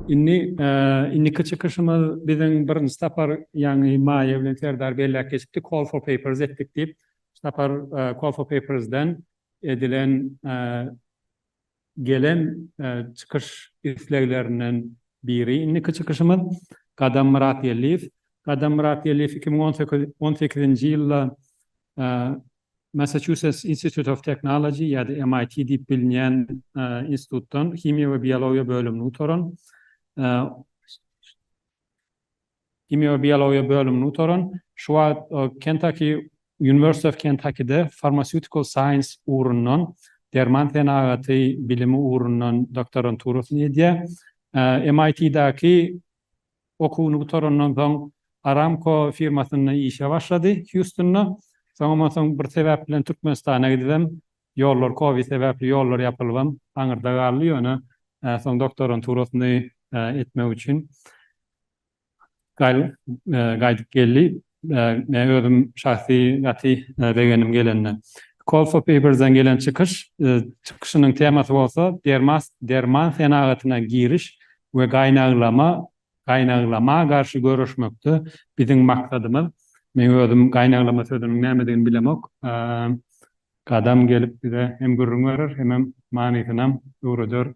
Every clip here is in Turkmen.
Indi indiki çykyşymyz biziň birinji sapar ýaňy maýa bilen Serdar belläp geçipdi, Call for papers etdik diýip. Şu sapar Call for papers-den edilen gelen çykyş isleglerinden biri indiki çykyşymyz Gadam Myratgeldiýew. Gadam Myratgeldiýew iki müň on sekiz on sekizinji ýylda Massachusetts Institute of Technology ýa-da MIT diýip bilinýän institutdan himiýa we biologiýa bölümini gutaran. Himiýa-biologiýa bölümini gutaran, şu wagt Kentucky University of Kentucky-de Pharmaceutical Science ugrundan, derman senagaty bilimi ugrundan doktoranturasyny edýär. MIT-däki okuwyny gutarandan soň Aramco firmasynda işe başlady Hýustunda. Soňam onsoň bir sebäp bilen Türkmenistana gidibem Ýollar covid sebäpli ýollar ýapylybam aňyrda galdy ýöne soň doktoranturasny etmek üçin gaýdyp geldi men özüm şahsy gaty begenim gelende. Kolfopibirden gelen çykyş çykyşynyň temasy bolsa derman senagatyna giriş we gaýnaglama gaýnaglama garşy göreşmekde biziň maksadymyz men özüm gaýnaglama sözüniň nämedigini bilemok Gadam gelip bize hem gürrüň berer, hemem manysynam öwreder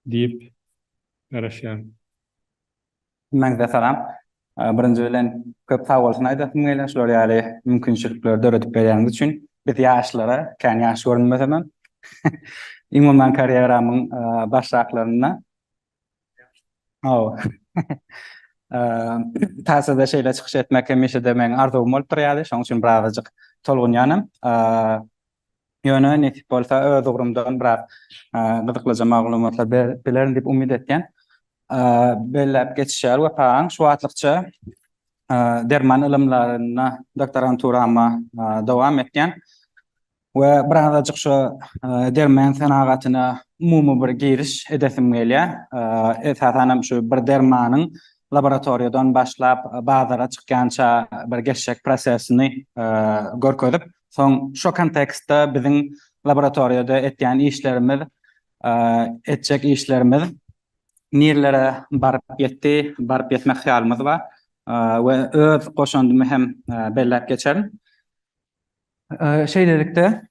diýip garaşýaryn. Hemmäňize salam. Birinji bilen köp sagbolsun aýdasym gelýär şular ýaly mümkinçilikleri döredip berýäniz üçin. Biz ýaşlara, kän ýaş görünmesemem, umuman karýeramyň başraklarynda Tassada şeýle çykyş etmek hemişe-de meň arzuwym bolup durýardy, şonuň üçin birazajyk tolgunýanam. Ýöne nesip bolsa öz ugrumdan biraz gyzyklyja maglumatlar bilerin diýip umyt etýän. Belläp geçişýär Wepa aň, şu wagtlykça derman ylymlaryna doktoranturama dowam etýän. We birazajyk şu derman senagatyna umumy bir giriş edesim gelýär. Esasan hem şu bir dermanyň laboratoriýadan başlap bazara çykýança bir geçjek prosesini görkezip, soň şu kontekstde biziň laboratoriýada etýän işlerimiz, etjek işlerimiz nirelere baryp ýetdi, baryp ýetmek hyýalymyz bar we öz goşandymy hem belläp geçerin. Şeýlelikde,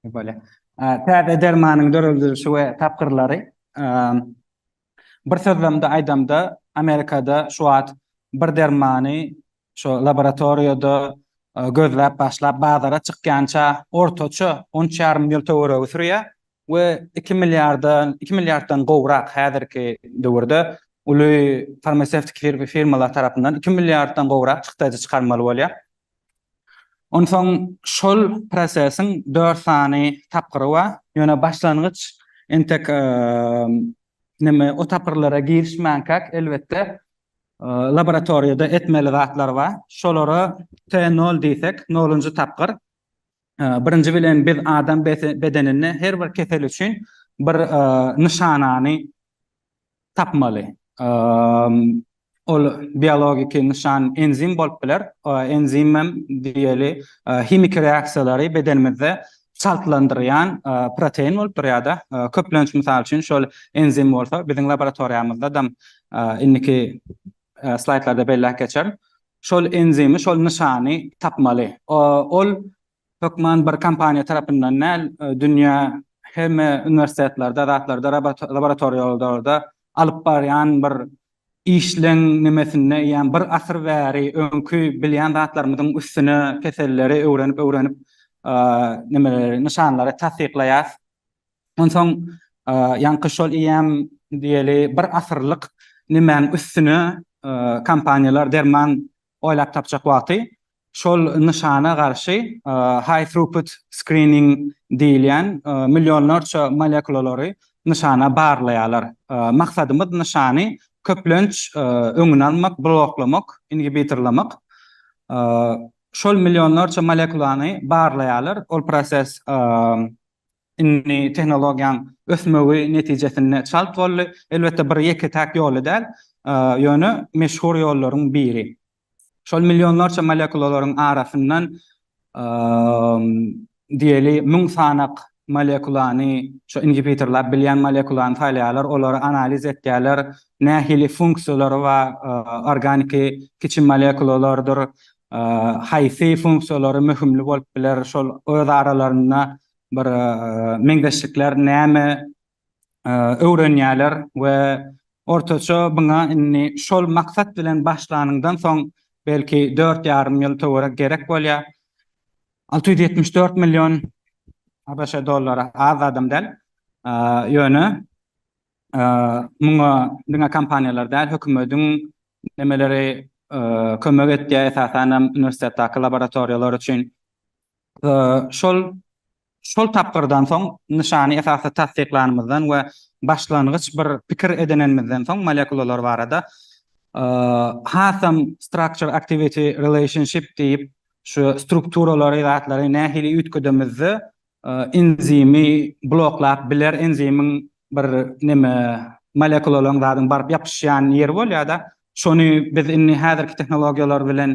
bolýar. Täze dermanyň döredilişi we tapgyrlary, bir sözlemde aýdamda, Amerikada şu wagt bir dermany şu laboratoriýada gözläp başlap bazara çykýança ortaça onç ýarym ýyl töweregi sürýär we iki milliardan, iki milliarddan gowrak häzirki döwürde uly farmasewtiki firmalar tarapyndan iki milliarddan gowrak çykdajy çykarmaly bolýar. Onsoň şol prosesiň dört sany tapgyry bar. Ýöne başlangyç entek neme o tapgyrlara girişmänkäk elbetde laboratoriýada etmeli zatlar bar. Şolara T nol diýsek, nolunjy tapgyr. Birinji bilen biz adam bedeninde her bir kesel üçin bir nyşanany tapmaly. Ol biologiki nyşan enzim bolup biler. Enzim hem diýeli himiki reaksiýalary bedenimizde çaltlandyrýan protein bolup durýar-da. Köplenç, mysal üçin, şol enzim bolsa biziň laboratoriýamyzda dam indiki Slaýdlarda belläp geçer. Şol enzimi, şol nyşany tapmaly. Ol hökman bir kompaniýa tarapyndan däl, dünýä hemme uniwersitetlerde, zatlarda, laboratoriýalarda alyp barýan bir işleň nimesinde eýýäm bir asyr bäri öňki bilýän zatlarymyzyň üstüne keselleri öwrenip-öwrenip nimeleri, nyşanlary tassyklaýas. Onsoň ýaňky şol eýýäm diýeli bir asyrlyk nimäň üstüne kompaniýalar derman oýlap tapjak wagty şol nyşana garşy high throughput screening diýilýän millionlarça molekulalary nyşana barlaýarlar. Maksadymyz nyşany köplenç öňüni almak, bloklamak, inhibitorlamak. Şol millionlarça molekulany barlaýarlar, ol proses Indi tehnologiýaň ösmegi netijesinde çalt boldy. Elbetde bir ýeke-täk ýoly däl, ýöne meşhur ýollaryň biri. Şol millionlarça molekulalaryň arasyndan diýeli müň sanak molekulany, şu inhibitorlar bilýän molekulany saýlaýarlar, olary analiz etýärler, nähili funksiýalary bar, organiki kiçi molekulalardyr, haýsy funksiýalary möhümli bolup biler, şol öz aralarynda bir meňzeşlikler näme öwrenýärler we ortaça muňa indi şol maksat bilen başlanyňdan soň belki dört ýarym ýyl töwerek gerek bolýar. Alty ýüz ýetmiş dört million ABŞ dollary az zadam däl. Ýöne muňa diňe kompaniýalar däl, hökümetiň nemeleri kömek etýär, esasan hem uniwersitetdäki laboratoriýalar üçin Şol şol tapgyrdan soň nyşany esasy tassyklanymyzdan we başlangyç bir pikir edinenimizden soň molekulalar barada hasam structure activity relationship diýip şu strukturalary zatlary nähili üýtgedemizde enzimi bloklap biler enzimiň bir neme molekulalaryň zadyň baryp ýapyşýan ýeri bolýada şony biz indi häzirki tehnologiýalar bilen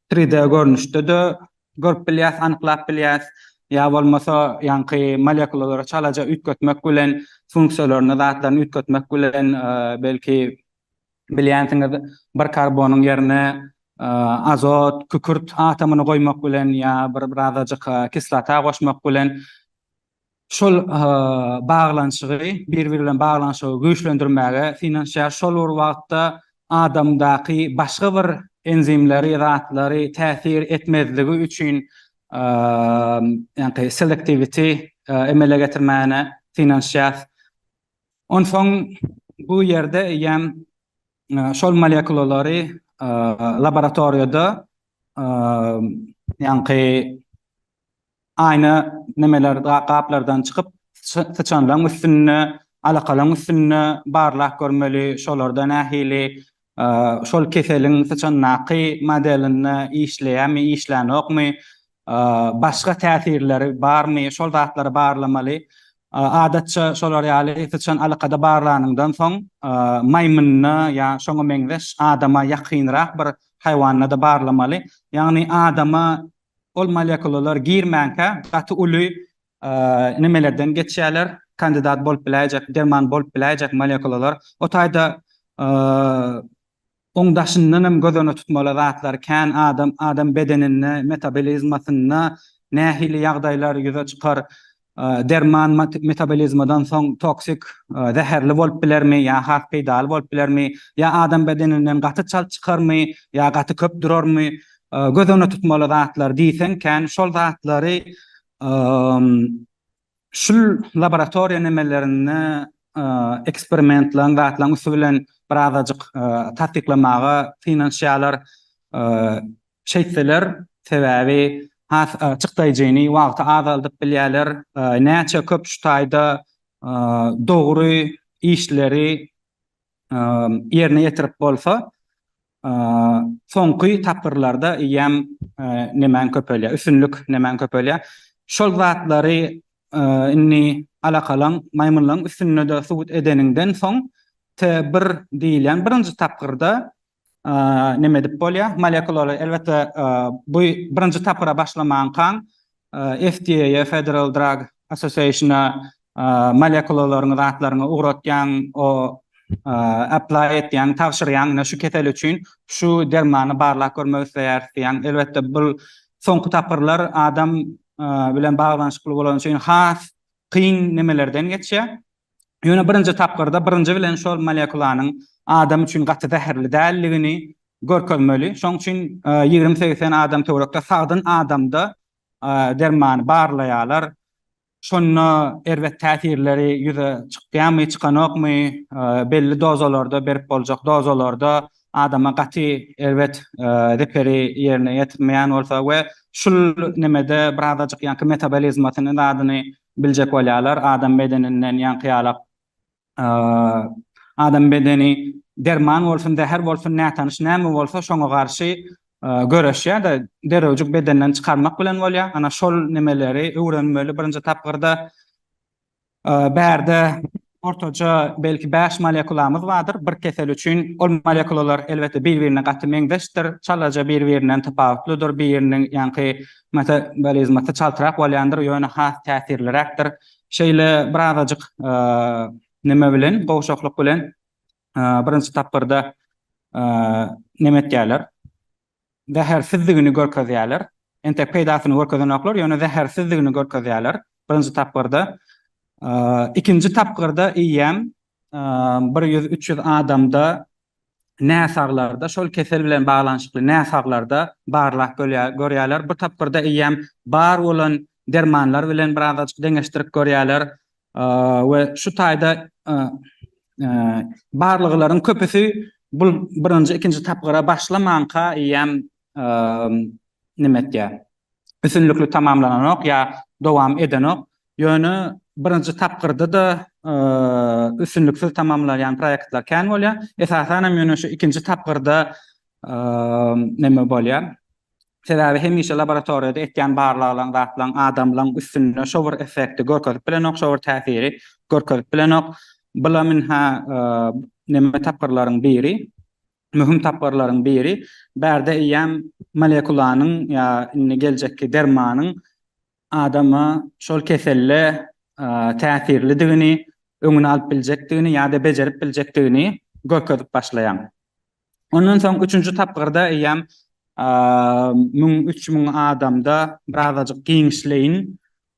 Tri D görnüşde-de görüp bilýäs, anyklap bilýäs, ýa bolmasa ýaňky molekulalary çalaja üýtgetmek bilen, funksiýalaryny, zatlaryny üýtgetmek bilen, belki bilýänsiňiz, bir karbonyň ýerine azot, kükürt atomyny goýmak bilen ýa bir birazajyk kislota goşmak bilen, şol baglanyşygy, bir-biri bilen baglanyşygy güýçlendirmäge synanyşýar. Şol bir wagtda adamdaky başga bir enzimleri, zatlary täsir etmezligi üçin ýaňky selektiwiti emele getirmäne synanyşýar. Onsoň bu ýerde eýýäm şol molekulalary laboratoriýada ýaňky aýna nemeler gaplardan çykyp syçanlaň üstünde alakalaň üstünde barlap görmeli şolarda nähili şol keseliň syçandaky modelinde işleýämi işlänokmy başga täsirleri barmy şol zatlary barlamaly adatça şolar ýaly syçan alakada barlanyňdan soň maýmynda ýa şoňa meňzeş adama ýakynrak bir haýwanda-da barlamaly ýagny adama Ol molekulalar girmänkä gaty uly nimelerden geçýärler, kandidat bolup biläýjek, derman bolup biläýjek molekulalar. O taýda oň daşyndan hem göz öňünde tutmaly zatlar kän, adam adam bedeninde, metabolizmasynda nähili ýagdaýlar ýüze çykar, Derman metabolizmadan soň toksik, zäherli bolup bilermi ýa has peýdaly bolup bilermi, ýa adam bedeninden gaty çalt çykarmy ýa gaty köp durarmy, göz öňünde tutmaly zatlar diýseň kän şol zatlary şul laboratoriýa nemelerinde eksperimentleň zatlaň üsti bilen birazajyk tassyklamaga synanyşýarlar. Şeýtseler, sebäbi has açyk daýjyny wagty azaldyp bilýärler. Näçe köp şu taýda dogry işleri ýerine ýetirip bolsa, soňky tapgyrlarda eýýäm nemäň köpelýär, üstünlik nemäň köpelýär. Şol zatlary indi alakalaň maýmynlaryň üstünde-de subut edeniňden soň TBIR diýilýän birinji tapgyrda Näme edip bolýar? Molekulary, elbetde, bu birinji tapgyra başlamankaň, FDA-ýa, Federal Drug Association-a molekulalaryňy, zatlaryňy ugratýaň, o apply etýäň, tabşyrýaň, ine şu kesel üçin şu dermany barlap görmek isleýäris diýýäň. Elbetde, bu soňky tapgyrlar adam bilen baglanyşykly bolany üçin has kyn nemelerden geçýär. Ýöne birinji tapgyrda birinji bilen şol molekulanyň adam üçin gaty zäherli däldigini görkezmeli. Şoň üçin ýigrimi segizden segsen adam töwerekde sagdyn adamda dermany barlaýarlar. Şonda erbet täsirleri ýüze çykýarmy, çykanokmy, belli dozalarda berip boljak dozalarda adama gaty erbet zeperi ýerine ýetirmeýän bolsa we şul nemede birazajyk ýaňky metabolizmasyny zadyny Biljek bolýarlar, adam bedeninden ýaňky ýalak adam bedeni derman bolsun, zäher bolsun, nätanyş näme bolsa şoňa garşy göreşýär-de, derewjik bedenden çykarmak bilen bolýar. Ana şol nemeleri öwrenmeli birinji tapgyrda. Bärde Ortaça belki bäş molekulamyz bardyr bir kesel üçin. Ol molekulalar elbetde bir-birine gaty meňzeşdir, çalaja bir-birinden tapawutlydyr, biriniň ýaňky metabolizmasy çaltrak bolýandyr, ýöne has täsirliräkdir. Şeýle birazajyk neme bilen, gowşaklyk bilen birinji tapgyrda neme etýärler, zähersizdigini görkezýärler. Entek peýdasyny görkezenoklar, ýöne zähersizdigini görkezýärler birinji tapgyrda. Ikinji tapgyrda eýýäm bir ýüz, üç ýüz adamda näsaglarda, şol kesel bilen baglanyşykly näsaglarda barlag görýärler. Bu tapgyrda eýýäm bar bolan dermanlar bilen birazajyk deňeşdirip görýärler. we şu taýda barlaglaryň köpüsi bu birinji, ikinji tapgyra başlamanka eýýäm neme etýär, üstünlikli tamamlananok ýa dowam edenok. Ýöne birinji tapgyrda-da üstünliksiz tamamlaýan proýektler kän bolýar. Esasan hem ýöne şu ikinji tapgyrda neme bolýar, Sebäbi hemişe laboratoriýada etýän barlaglaň zatlaň adamlaň üstünde şo bir effekti görkezip bilenok, şo bir täsiri görkezip bilenok. Bula mn-hä neme tapgyrlaryň biri, möhüm tapgyrlaryň biri, bärde eýýäm molekulanyň ýa indi geljekki dermanyň adama şol keselle täsirlidigini, öňüni alyp biljekdigini ýa-da bejerip biljekdigini görkezip başlaýaň. Ondan soň üçünji tapgyrda eýýäm müň üç müň adamda birazajyk giňişleýin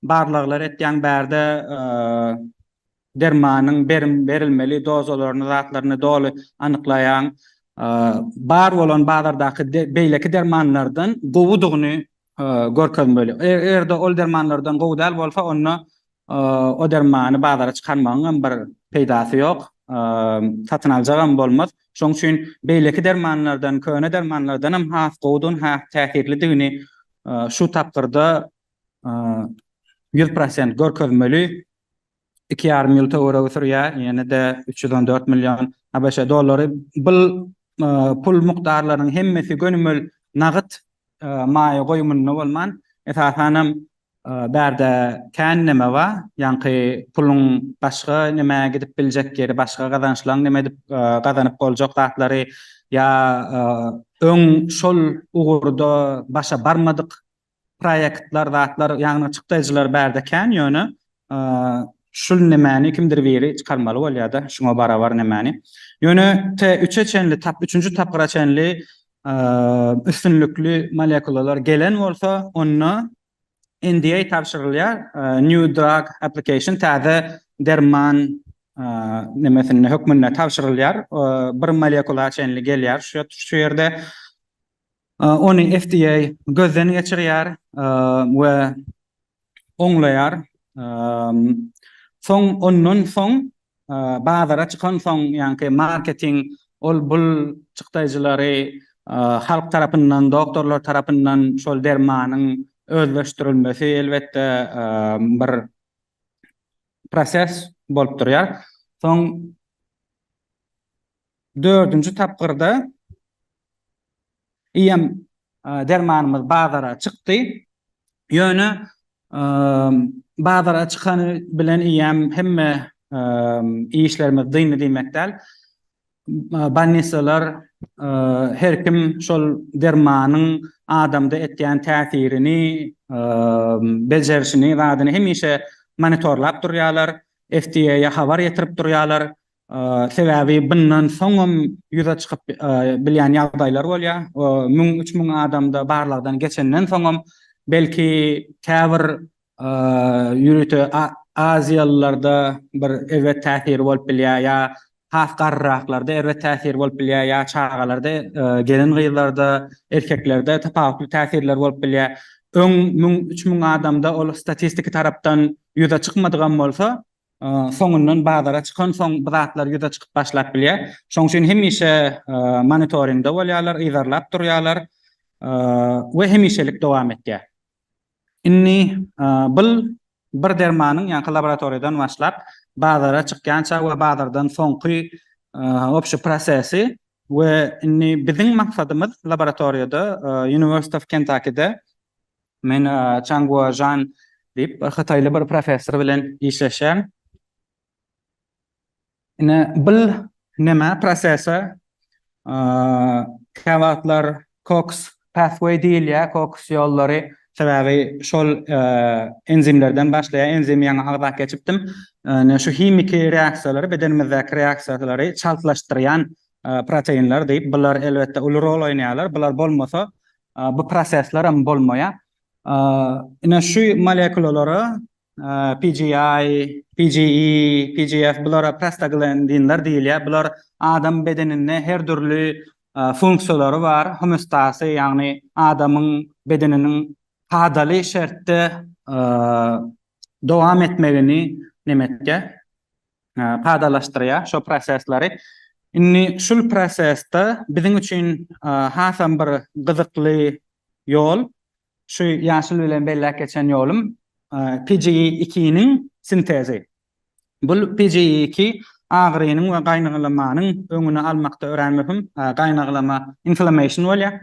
barlaglar etýäň bärde dermanyň berim berilmeli dozalaryny zatlaryny doly anyklaýaň bar bolan bazardaky beýleki dermanlardan gowudygyny görkezmeli eger-de ol dermanlardan gowy däl bolsa onda O dermany bazara çykarmagyňam bir peýdasy ýok, satyn aljagam bolmaz. Şoň üçin beýleki dermanlardan, köne dermanlardanam has gowudygyny, has täsirlidigini şu tapgyrda ýüz prosent görkezmeli. Iki ýarym ýyl töweregi sürýär, ýene-de üç ýüz on dört million ABŞ dollary. Bu pul mukdarlarynyň hemmesi gönümel nagyt maýa goýumynda bolman, esasanam Bärde kän neme ba, ýaňky puluň başga nemä gidip biljek ýeri, başga gazançlaň neme edip gazanyp boljak zatlary ýa öň şol ugurda başa barmadyk proýektler zatlar ýagny çykdaýjylar bärde kän ýöne şul nemäni kimdir biri çykarmaly bolýada şuňa barabar nemäni ýöne te üçe çenli tap üçünji tapgyra çenli üstünlikli molekulalar gelen bolsa, onda NDA tabşyrylýar, New Drug Application, täze derman nemesinde, hökmünde tabşyrylýar, bir molekula çenli gelýär şu ýerde. Ony FDA gözden geçirýär we oňlaýar. Soň ondan soň bazara çykansoň, ýaňky marketing ol bul çykdaýjylary halk tarapyndan, doktorlar tarapyndan şol dermanyň özleşdirilmesi elbetde bir proses bolup durýar. Soň Dördünji tapgyrda iýen dermanymyz bazara çykdy. Ýöne bazara çykany bilen iýen hemme işlerimiz dyndy diýmek däl. Bolnisalar her kim şol dermanyň adamda etýän täsirini, bejerişini, zadyny hemişe monitorlap durýarlar, FDA-ýa habar ýetirip durýarlar. Sebäbi bundan soňam ýüze çykyp bilýän ýagdaýlar bolýar. Müň, üç müň adamda barlagdan geçenden soňam, belki käbir ýörite aziýalylarda bir erbet täsiri bolup bilýär ýa has garryraklarda erbet täsiri bolup bilýär ýa çagalarda, gelin-gyzlarda, erkeklerde tapawutly täsirler bolup bilýär. Öň müň, üç müň adamda ol statistiki tarapdan ýüze çykmadygam bolsa, soňundan bazara çykansoň bu zatlar ýüze çykyp başlap bilýär. Şoň üçin hemişe monitoringde bolýarlar, yzarlap durýarlar we hemişelik dowam etýär. Indi bul bir dermanyň ýaňky laboratoriýadan başlap bazara çykýança we bazardan soňky obşy prosesi we indi biziň maksadymyz laboratoriýada University of Kentucky-de Men Çang Guojan diýip, hytaýly bir professor bilen işleşýän. Ine, bil näme prosese kä wagtlar Cox pathway diýilýär, Cox ýollary. Sebäbi şol enzimlerden başlaýar, enzimi ýaňy agzap geçipdim. Ine, şu himiki reaksiýalary, bedenimizdäki reaksiýalary çaltlaşdyrýan proteinler diýip, bular elbetde uly rol oýnaýarlar. Bular bolmasa, bu prosesler hem bolmaýar. Ine şu molekulalara PGI, PGE, PGF bulara prostaglandinler diýilýär. Bular adam bedeninde her dürli funksiýalary bar, homostasy, ýagny adamyň bedeniniň kadaly şertde dowam etmegini neme etýär? kadalaşdyrýar şo prosesleri. Indi şul prosesde biziň üçin hasam bir gyzykly ýol, şu ýaşyl bilen belläp geçen ýolum PGE iki niň sintezi. Bul PGE iki agyrynyň we gaýnaglamanyň öňüni almakda örän möhüm. Gaýnaglama inflammation bolýar.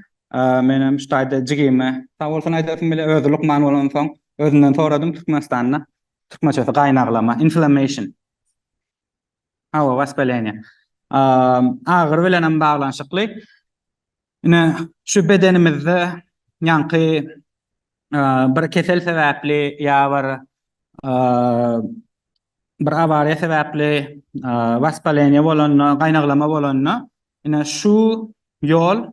Menem şu taýda jigime sag bolsun aýdasym gelýär, özi lukman bolansoň özünden soradym Türkmenistanda Türkmençesi gaýnaglama, inflammation. Hawa, waspaleniýe. Agyry bilen hem baglanyşykly. Ine, şu bedenimizde ýaňky bir kesel sebäpli ýa bir bir awariýa sebäpli waspaleniýe bolanda, gaýnaglama bolanda, ine şu ýol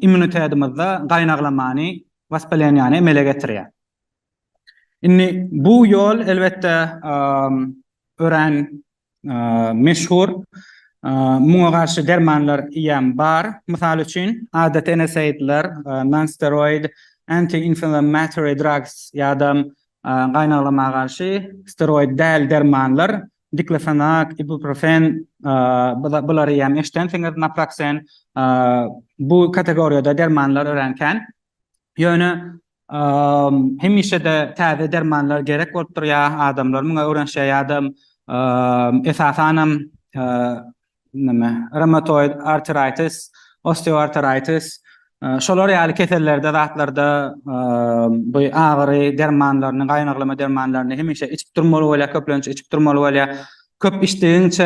immunitedimizde gaýnaglamany, waspaleniýany emele getirýär. Indi bu ýol elbetde örän meşhur. Muňa garşy dermanlar ýam bar. Mysal üçin, adaty NSAID-ler, nonsteroid anti-inflammatory drugs, ýa-da gaýnaglama garşy steroid däl dermanlar Diklofenak, ibuprofen, bulary hem eşidensiňiz, naproxen, bu kategoriýada dermanlar örän kän. Ýöne hemişe-de täze dermanlar gerek bolup durýar, adamlar muňa öwrenişýär ýa-da esasanam näme, reumatoid arteritis, osteoarteritis, şolar ýaly kesellerde, zatlarda bu agyry dermanlaryny, gaýnaglama dermanlaryny hemişe içip durmaly bolýar, köplenç içip durmaly bolýar. Köp içdigiňçe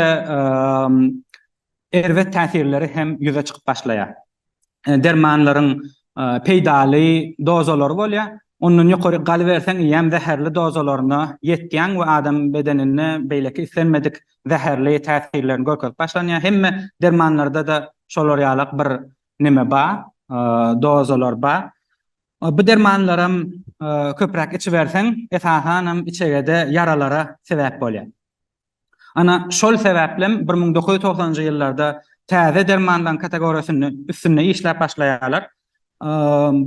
erbet täsirleri hem ýüze çykyp başlaýar. dermanlaryň peýdaly dozalary bolýar. Ondan ýokaryk galyberseň, eýýäm zäherli dozalaryna ýetýäň we adam bedeninde beýleki islenmedik zäherli täsirlerini görkezip başlanýar. Hemme dermanlarda-da şolar ýalak bir neme bar, dozalar bar. Bu dermanlaram köpräk içiberseň, esasanam içegede ýaralara sebäp bolýar. Ana, şol sebäplem bir müň dokuz ýüz togsanynjy ýyllarda täze dermanlaryň kategoriýasynda üstünde işläp başlaýarlar.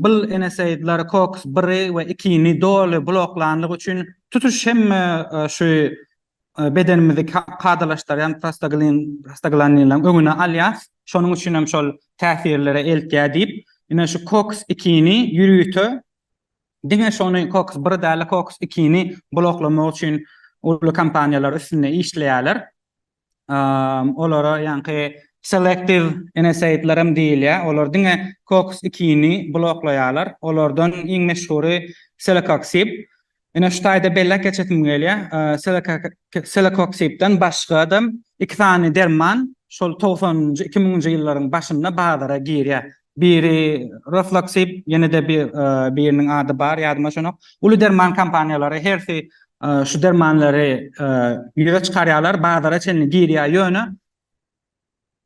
Bul NSAID-ler COX biri we ikini doly bloklanlygy üçin tutuş hemme şu bedenimizi kadalaşdyrýan prostaglandinleriň öňüni alýar. Şonuň üçin hem şol täsirlere eltýär diýip, ine şu COX ikini ýörite Diňe şony Cox bir däl-de Cox ikini bloklamak üçin uly kompaniýalar üstünde işleýärler. Olara ýaňky selektiw NSAID-ler hem diýilýär. Olar diňe Cox ikini bloklaýarlar. Olardan iň meşhury Celecoxib. Ine şu taýda belläp geçesim gelýär. Celecoxib-den başga-da iki sany derman şol togsanynjy, iki müňünji ýyllaryň başynda bazara girýär. Biri Rofloksib, ýene-de bir biriniň ady bar, ýadyma düşenok. Uly derman kompaniýalary hersi şu dermanlary ýüze çykarýarlar, bazara çenli girýär, ýöne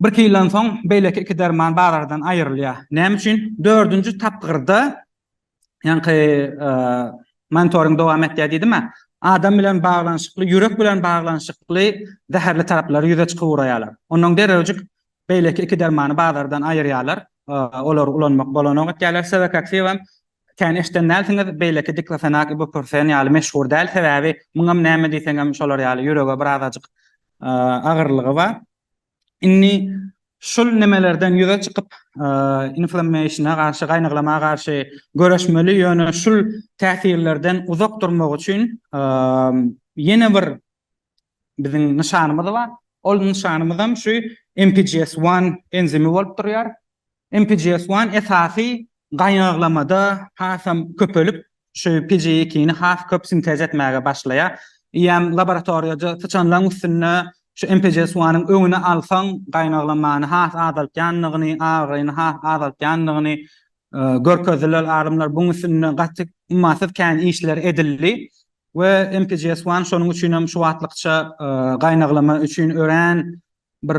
birki ýyldan soň beýleki iki derman bazardan aýrylýar. Näme üçin? Dördünji tapgyrda Ýaňky monitoring dowam etýär diýdim-ä. Adam bilen baglanyşykly, ýürek bilen baglanyşykly zäherli taraplary ýüze çykyp ugraýarlar. Onnoň derrewjik beýleki iki dermany bazardan aýyrýarlar. Olary ulanmak bolanok etýärler. Sevakaksiw hem kän eşden dälsiňiz, beýleki diklofenak, ibuprofen ýaly meşhur däl, sebäbi muňam näme diýseňem şolar ýaly ýürege birazajyk agyrlygy bar. Indi şul nemelerden ýüze çykyp, inflammation-a garşy, gaýnaglamaya garşy göreşmeli, ýöne şul täsirlerden uzak durmak üçin ýene bir biziň nyşanymyz bar. Ol nyşanymyzam şu MPGS one enzimi bolup durýar. MPGS one esasy gaýnaglamada hasam köpelip, şu PGE ikini has köp sintez etmäge başlaýar. Eýýäm laboratoriýada syçanlaryň üstünde şu MPGS one nyň öňüni alsaň, gaýnaglamany has azaltýandygyny, agyryny has azaltýandygyny görkezdiler alymlar. Buň üstünde gaty ummasyz kän işler edildi we MPGS one şonuň üçin hem şu wagtlykça gaýnaglama üçin örän bir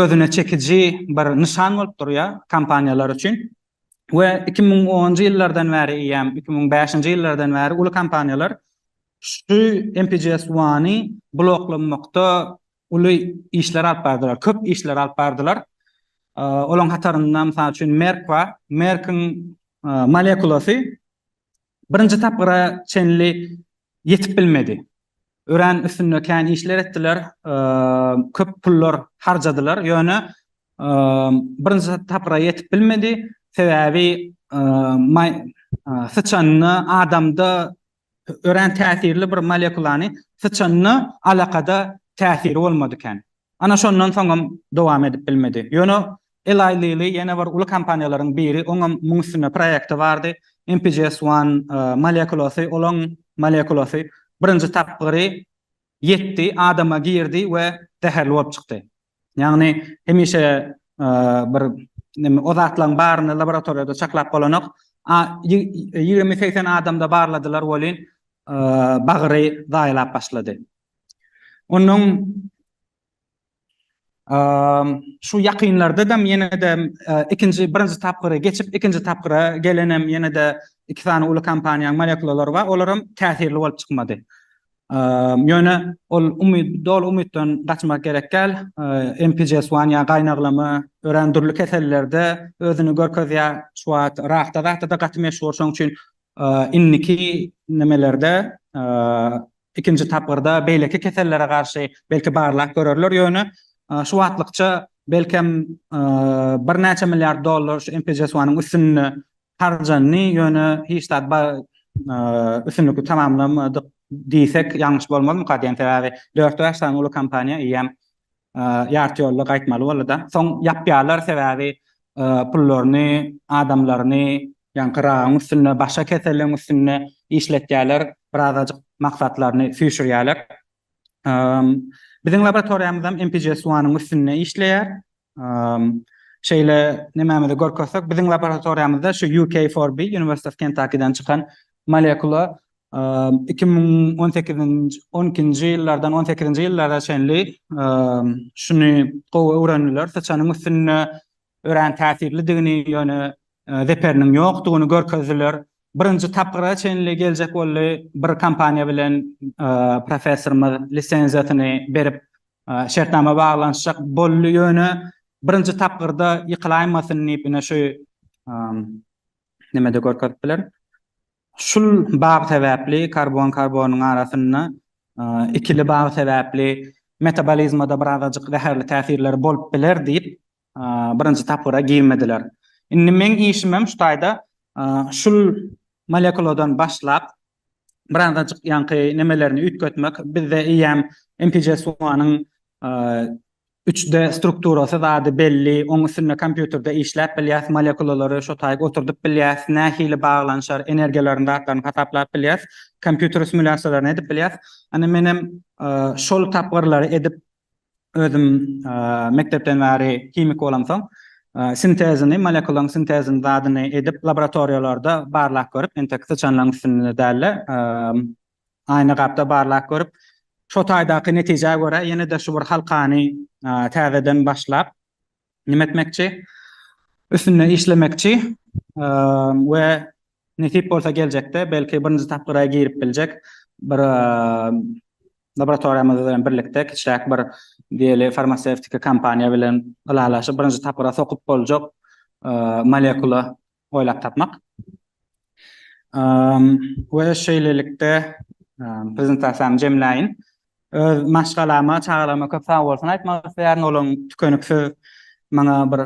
özüne çekiji bir nyşan bolup durýar kompaniýalar üçin we iki müň onunjy ýyllardan bäri eýýäm iki müň bäşinji ýyllardan bäri uly kompaniýalar şu MPGS One-y bloklamakda uly işler alyp bardylar, köp işler alyp bardylar. Olaryň hatarynda, mysal üçin, Merk bar. Merk-iň molekulasy Birinji tapgyra çenli ýetip bilmedi. Örän üstünde kän işler etdiler, köp pullar harjadylar, ýöne birinji tapgyra ýetip bilmedi. Sebäbi syçanda, adamda örän täsirli bir molekulany syçanda alakada täsiri bolmady kän. Ana şondan soňam dowam edip bilmedi. Ýöne Eli Lili ýene bir uly kompaniýalaryň biri, oňam muň üstünde proýekti bardy, MPGS One molekulasy, olaň molekulasy birinji tapgyry ýetdi, adama girdi we zäherli bolup çykdy. Ýagny hemişe bir neme o zatlaň baryny laboratoriýada çaklap bolanok. Ýigrimi-segsen adamda barladylar welin bagyry zaýalap başlady. Onuň şu ýakynlarda hem ýene-de ikinji, birinji tapgyra geçip, ikinji tapgyra gelen hem ýene-de iki sany uly kompaniýanyň molekulalary bar, olar hem täsirli bolup çykmady. Ýöne ol umyt, doly umytdan gaçmak gerek däl. MPGS one ýa gaýnaglama örän dürli kesellerde özüni görkezýär. Şu wagt rakda zatda-da gaty meşhur. Şonuň üçin indiki nimelerde, Ikinji tapgyrda beýleki kesellere garşy belki barlag görerler, ýöne şu wagtlykça belkem birnäçe milliard dollar şu MPJSUA-nyň üstünde harjandy, ýöne hiç zat üstünlikli tamamlamadyk diýsek ýalňyş bolmazmyka diýen sebäbi dört-bäş sany uly kompaniýa eýýäm Ýarty ýolda gaýtmaly boldy-da. Soň ýapýarlar, sebäbi pullaryny, adamlaryny ýaňky raýaň üstünde, başga keselligiň üstünde işletýärler, birazajyk maksatlaryny süýşürýärler. Biziň laboratoriýamyzam MPGS-One-yň üstünde işleýär. Şeýle nemämizi görkezsek, biziň laboratoriýamyzda şu UK4B, University of Kentucky-den çykan molekula Iki müň on sekizinji, on ikinji ýyllardan on sekizinji ýyllara çenli şuny gowy öwrendiler, syçanyň üstünde örän täsirlidigini, ýöne zeperiniň ýokdugyny görkezdiler. Birinji tapgyra çenli geljek boldy, bir kompaniýa bilen professorymyz lisenziýasyny berip, şertnama baglanyşjak boldy, ýöne birinji tapgyrda ýykylaýmasyn diýip, ine şu nemede görkezip biler. Şul bag sebäpli karbon-karbonyň arasynda ikili bag sebäpli metabolizmada birazajyk zäherli täsirleri bolup biler diýip, birinji tapgyra girmediler. Indi meň işimem şu taýda şul molekuladan başlap, birazajyk ýaňky nemelerini üýtgetmek. Bizde eýýäm MPGS-one-yň Üç D strukturasy zady belli, oň üstünde kompýuterde işläp bilýäs, molekulalary şo taýy oturdyp bilýäs, nähili baglanyşar, energiýalaryny, zatlaryny hasaplap bilýäs, kompýuter simulýasiýalaryny edip bilýäs. Ine menem şol tapgyrlary edip özüm mekdepden bäri himik bolamsoň, sintezini, molekulaň sintezini zadyny edip laboratoriýalarda barlap görüp, entek syçanlaryň üstünde däl-de, Aýna gapda barlap görüp, şo taýdaky netijä görä ýene-de şu bir halkany täzeden başlap, nime etmekçi, üstünde işlemekçi we nesip bolsa geljekde belki birinji tapgyra girip biljek bir laboratoriýamyz bilen birlikde kiçiräk bir diýeli farmasewtiki kompaniýa bilen ylalaşyp birinji tapgyra sokup boljak molekula oýlap tapmak we şeýlelikde prezentasiýamy jemläýin. Öz maşgalama, çagalaryma köp sag bolsun aýtmak isleýärin. Olaryň tükeniksiz maňa bir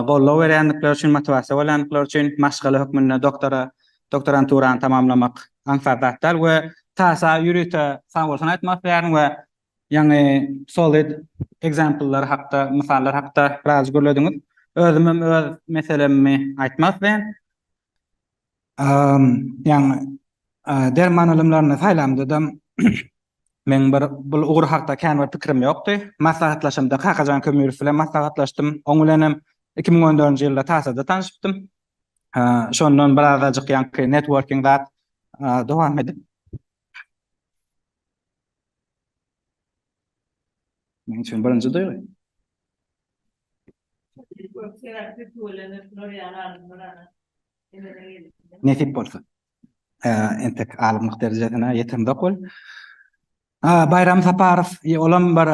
goldaw berýändikleri üçin, motiwasiýa bolýandyklary üçin. Maşgala hökmünde doktora, doktoranturany tamamlamak aňsat zat däl we TASA ýörite sag bolsun aýtmak isleýärin we Ýaňy solid example-lar hakda, mysallar hakda biraz gürlediňiz. Özümem öz meselemmi aýtmak isleýän. Ýaňy derman ylymlaryny saýlamdadam meň bir bul ugur hakda kän bir pikirim ýokdy. Maslahatlaşamda Kakajan Kömürow bilen maslahatlaşdym. Oň bilenem iki müň on dördünji ýylda Tasada tanyşypdym. Şondan birazajyk ýaňky networking zat dowam edip. Men üçin birinji duýgy. Nesip bolsa. Entek alymlyk derejesine ýetemzok ol. Baýram Saparow, olam bir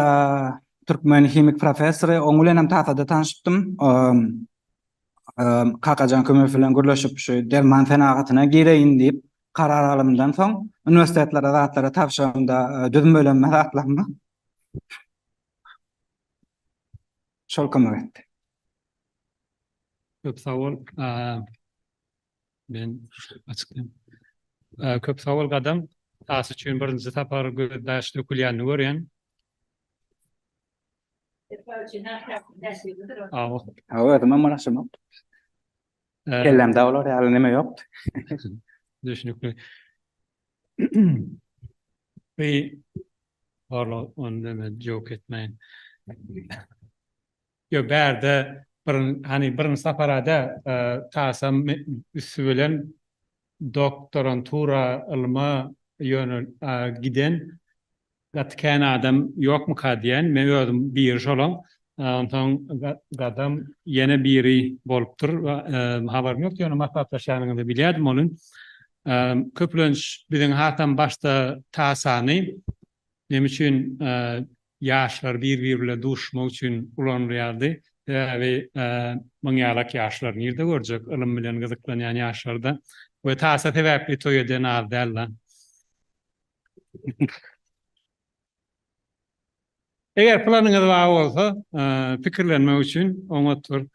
türkmen himik professory, oň bilenem taýsada tanyşypdym. Kakajan Kömezow bilen gürleşip şu derman senagatyna gireýin diýip, karar alymdan soň uniwersitetlere zatlary tabşyranda e, düzmelenme zatlanma şol kömek etdi. Köp sag bol. Men açykdan. Köp sag bol gadam. As üçin birinji sapar gözdaş dökülýänini görýän. Awa. Awa, özüm hem araşdyrmak. Kellämde olar ýaly neme ýokdy. Düşnükli. Bi barla ony neme jok etmeýin. Yo bärde bir hani birinji saparada tasam üstü bilen doktorantura ylma ýönel giden gaty kän adam ýokmyka diýän. Men özüm biri şolaň. Onsoň gadam ýene biri bolupdyr. Habarym ýokdy, ýöne maslahatlaşýanyňyzy bilýärdim onuň. Köplenç biziň hasam başda tasany neme üçin ýaşlar bir-biri bilen duşuşmak üçin ulanylýardy. Sebäbi muň ýalak ýaşlary nirde görjek, ylym bilen gyzyklanýan ýaşlarda we tasa sebäpli toý eden az dälda. Eger planyňyz bar bolsa, pikirlenmek üçin oňatdyr.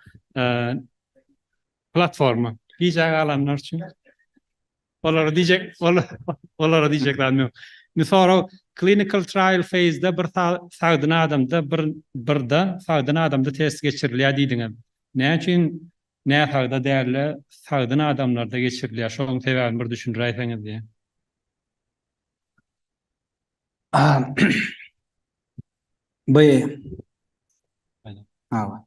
Platforma. Gijä galanlar üçin. Olara diýjek, olara diýjek zadym ýok. Indi sorag, Clinical trial phase-de bir sagdyn adamda birde sagdyn adamda test geçirilýär diýdiňiz. Näme üçin näsagda däl-de sagdyn adamlarda geçirilýär? Şonuň sebäbini bir düşündiräýseňiz diýýän. By. Hawa.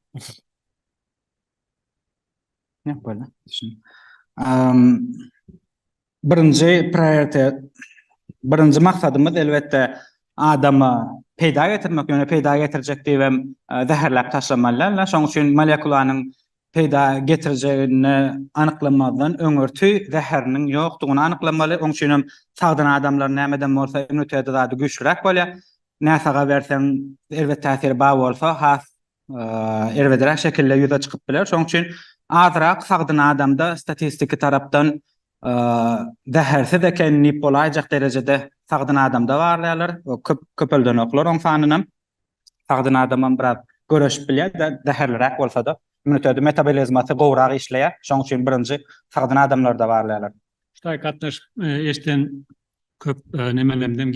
Birinji prioritet, birinji maksadymyz elbetde adamy peýda getirmek, ýöne peýda getirjek diýip hem zäherläp taşlamaly däldir. Şonuň üçin molekulanyň peýda getirjegini anyklamazdan öňürti zäheriniň ýokdugyny anyklamaly. Onuň üçin hem sagdyn adamlar nämeden bolsa immuniteti zady güýçliräk bolýar. Näsaga berseň elbet täsiri bar bolsa has erbedräk şekilde ýüze çykyp biler. Şonuň üçin azrak sagdyn adamda statistiki tarapdan zähersiz eken diýip bolaýjak derejede sagdyn adamda barlaýarlar. Köp köpeldenoklar oň sanynam. Sagdyn adamam biraz göreşip bilýär, zäherliräk bolsa-da. Immuniteti, metabolizmasy gowrak işleýär. Şonuň üçin birinji sagdyn adamlarda barlaýarlar. Ştaý gatnaşyk eşden Köp nemelemden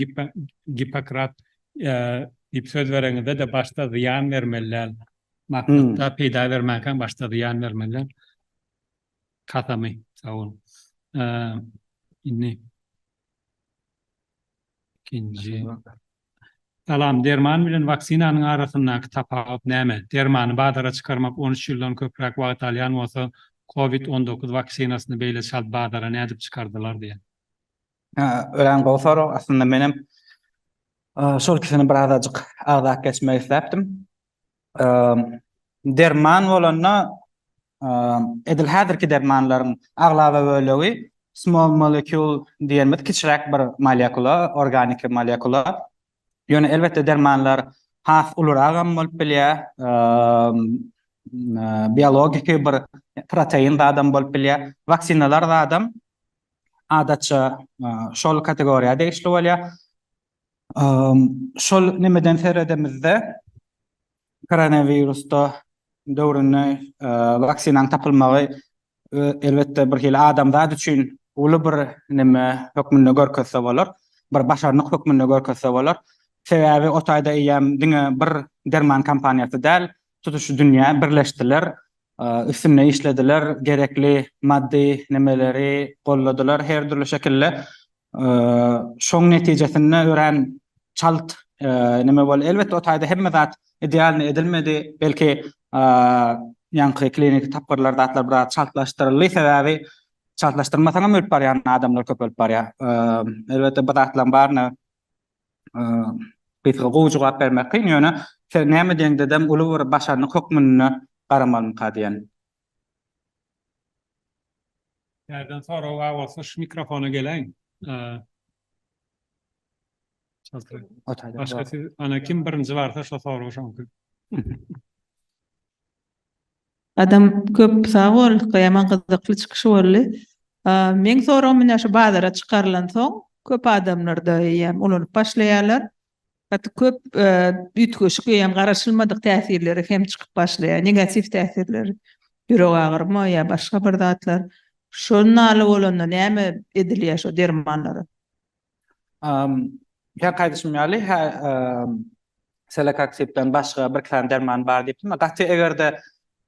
Gippokrat diýip söz bereňizde-de başda zyýan bermeli däl. Maksatda peýda bermänkäň başda zyýan bermeli däl. Kasamy, sag boluň. Indi ikinji. Salam, derman bilen waksinanyň arasyndaky tapawut näme? Dermany bazara çykarmak on üç ýyldan köpräk wagt alýan bolsa, covid on dokuz waksinasyny beýle çalt bazara nädip çykardylar diýen. Örän gowy sorag. Aslynda menem şol ikisini bir azajyk agzap geçmek isläpdim. Derman bolanda edil häzirki dermanlaryň aglaba bölegi small molecule diýenimiz kiçiräk bir molekula, organiki molekula. Ýöne elbetde dermanlar has uluragam bolup bilýär. Biologik bir protein zadam bolup bilýär. Waksinalar zadam adatça şol kategoriýa degişli bolýar. Şol nemeden seredemizde Koronawirusda döwründe waksinaň tapylmagy elbetde bir hili adamzat üçin uly bir neme hökmünde görkezse bolar, bir başarnyk hökmünde görkezse bolar. Sebäbi o taýda eýýäm diňe bir derman kompaniýasy däl, tutuş dünýä birleşdiler, üstünde işlediler, gerekli maddy nemeleri golladylar her dürli şekilde. Şoň netijesinde örän çalt neme boldy. Elbetde o taýda hemme zat idealnyý edilmedi. Belki ýaňky kliniki tapgyrlar zatlar biraz çaltlaşdyryldy. Sebäbi çaltlaşdyrmasaňam ölüp barýan adamlar köpelip barýar. Elbetde bu zatlaryň baryna gysga gowy jogap bermek kyn. Ýöne sen näme diýeňdedem uly bir başarnyk hökmünde garamalymyka diýen Nerden sorag bar bolsa şu mikrofona geleň. Başga siz ana kim birinji barsa şo sorag şoňky. Adam köp sag bol Gyýaman gyzykly çykyş boldy. Meň soragym ine şu bazara çykarylansoň köp adamlarda eýýäm ulanyp başlaýarlar. Gaty köp üýtgeşik öýem garaşylmadyk täsirleri hem çykyp başlaýar, negatiw täsirleri, ýürek agyryma ýa başga bir zatlar. Şol naly bolanda näme edilýär şo dermanlara? Käki aýdyşym ýaly hä selekoksipden başga birki sany derman bar diýipdim. Gaty egerde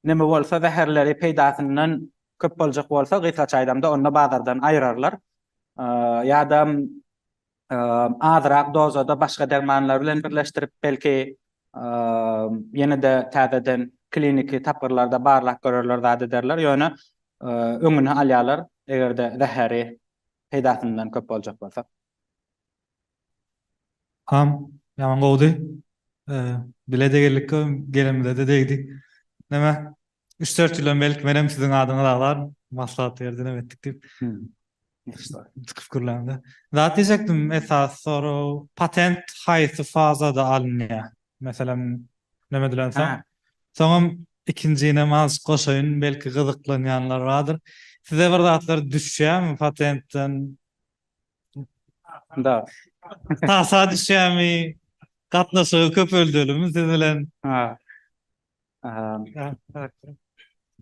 neme bolsa zäherleri peýdasyndan köp boljak bolsa gysgaça aýdamda onda bazardan aýyrarlar. Ýadam azyrak dozada başga dermanlar bilen birleşdirip, belki, ýene-de täzeden kliniki tapgyrlarda barlap görerler, zat ederler, ýöne öňüni alýarlar, eger-de zäheri peýdasyndan köp boljak bolsa. Hám, ýaman gowudy. Bile-de geldik, gelenimize-de degdi. Näme, Üç-dört ýyl öňňelik menem siziň adyňyz agzar maslahat berdinim etdik diýip. Çykyp gürläňde. Zat diýjekdim esasy sorag patent haýsy fazada alynýa? Meselem näme edilen soň? Soňam ikinjinem azjyk goşaýyn belki gyzyklanýanlar bardyr. Size bir zatlar düşýämi patentden? Da. Tasa düşýämi? Gatnaşygy köpeldelimi siz bilen?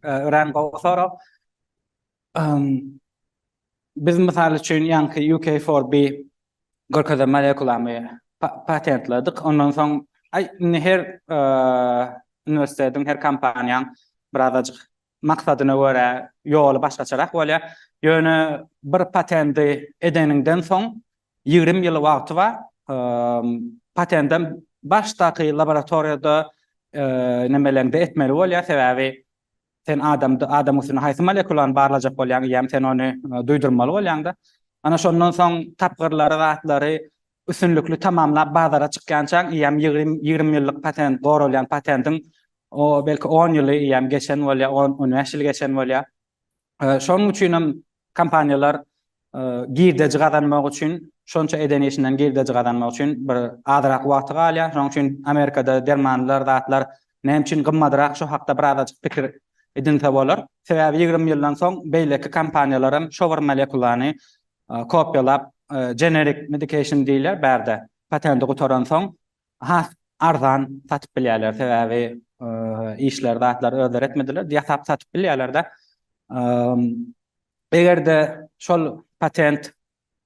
Örän gowy sorag. Biz mysal üçin ýaňky UK4B görkezen molekulamy patentledik. Ondan soň indi her uniwersitetiň, her kompaniýanyň birazajyk Maksadyna görä ýoly başgaçarak bolýar. Ýöne bir patendi edeniňden soň ýigrimi ýyl wagty bar. Patendem başdaky laboratoriýada nemeleňde etmeli bolýar. Sebäbi sen adamda adam üstünde haýsy molekulany barlajak bolýaň eýýäm sen ony duýdurmaly bolýaňda. Ana şondan soň tapgyrlary zatlary üstünlikli tamamlap bazara çykýançaň eýýäm ýigrimi ýigrimi ýyllyk patent goralýan patendiň O, belki, on ýylyam geçen bolýar, on, on bäş ýyl geçen bolýar. Şonuň üçin hem kompaniýalar girdeji gazanmak üçin, şonça eden işinden girdeji gazanmak üçin bir azrak wagty galýar. Şonuň üçin Amerikada dermanlar, zatlar näme üçin gymmadrak, şo hakda birazajyk pikir edinse bolar. Sebäbi ýigrimi ýyldan soň beýleki kompaniýalar hem şo bir molekulany kopiýalap, generik medikation diýilýär bärde, patenti gutaransoň, Has arzan satyp bilýärler, sebäbi işleri, zatlary özleri etmediler, ýasap satyp bilýärler-de. Eger-de şol patent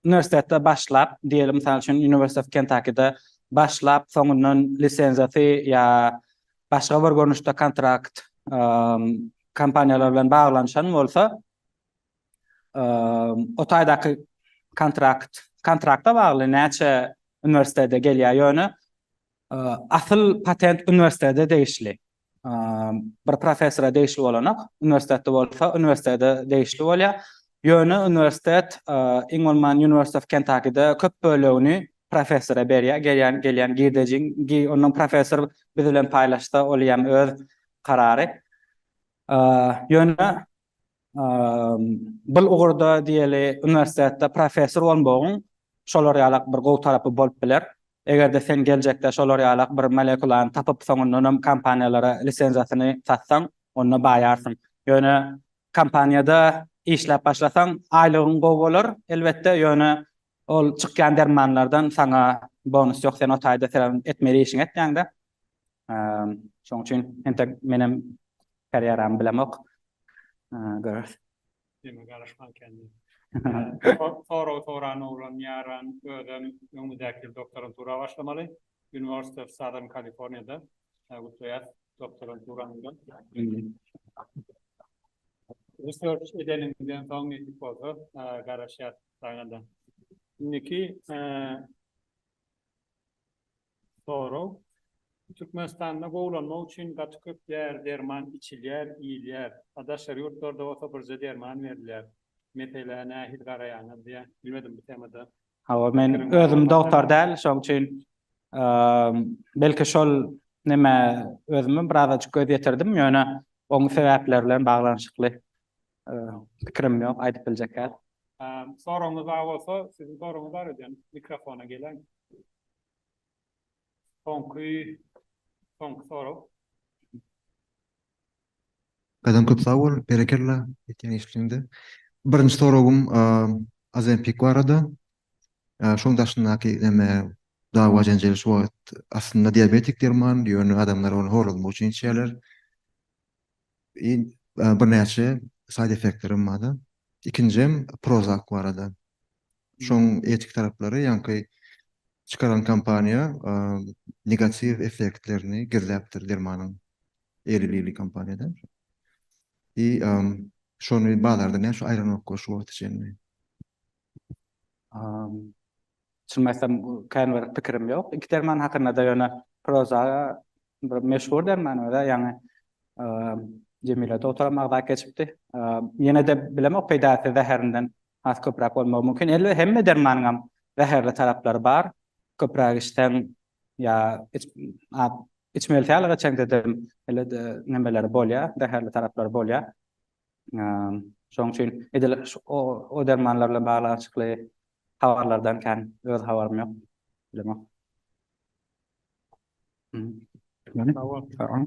uniwersitetde başlap, diýeli mysal üçin University of Kentucky-de başlap, soňundan lisenziýasy ýa başga bir görnüşde kontrakt kompaniýalar bilen baglanyşan bolsa, o taýdaky kontrakt kontrakta bagly näçe uniwersitete gelýär ýöne asyl patent uniwersitete degişli bir professora degişli bolanak uniwersitetde bolsa uniwersitete degişli bolýar ýöne uniwersitet iň bolman University of Kentucky-de köp bölegini professora berýär gelýän gelýän girdejiň ondan professor biz bilen paýlaşsa ol ýam öz karary ýöne Bul ugurda diýeli uniwersitetde professor bolmagyň şolar ýalak bir gowy tarapy bolup biler. Eger-de sen geljekde şolar ýalak bir molekulany tapyp soňundanam kompaniýalara lisenziýasyny satsaň, onda baýarsyň. Ýöne kompaniýada işläp başlasaň aýlygyň gowy bolar, elbetde, ýöne ol çykýan dermanlardan saňa bonus ýok, sen o taýda senem etmeli işiňi etýäňdä. Şoň üçin entek menem karýeramy bilemok. Görüris. Diýme garaşman kendi. Sorag soran oglan ýaran özem öňümizdäki ýyl doktorantura başlamaly. University of Southern California-da. Gutlaýas doktoranturanyňda. Research edeniňden soň nesip bolsa garaşýas saňa-da. Indiki Sorag, Türkmenistanda gowulanmak üçin gaty köp däri derman içilýär, iýilýär. A daşary ýurtlarda bolsa birje derman berilýär. Meselä nähili garaýaňyz diýä. Bilmedim bu temada. Hawa men özüm dogtar däl şoň üçin belki şol neme özümem birazajyk göz ýetirdim ýöne oň sebäpleri bilen baglanyşykly pikirim ýok aýdyp biljek däl. Soragyňyz bar bolsa siziň soragyňyz bar eden mikrofona gelen. Soňky soňky sorag. Gadyň köp sag bol, berekella etýän işliňde. Birinji soragym Ozempic barada. Şoň daşyndaky neme dawa jenjel şu wagt aslynda diabetik derman, ýöne adamlar ony horlazmak üçin içýärler. I birnäçe side effektlerim bardy. Ikinjem Prozac barada. Şoň etik taraplary ýaňky çykaran kompaniýa negatiw effektlerini gizläpdir dermanyň. Eli Lilly kompaniýada. I şony bazarda näçe aýranokka şu wagta çenli? Çynymy aýtsam, kän bir pikirim ýok iki derman hakynda-da, ýöne Proza bir meşhur derman we-de, ýaňy Jemile dogtaram agzap geçipdi. Ýene-de bilemok, peýdasy zäherinden has köpräk bolmagy mümkin. Elbe, hemme dermanyňam zäherli taraplary bar. Köpräk içseň ýa içmeli sähel geçeňde-de, ele-de nemeleri bolýar, zäherli taraplary bolýar. Şonuň üçin edil o dermanlar bilen baglanyşykly habarlardan kän öz habarym ýok. Bilemok. Sag bol.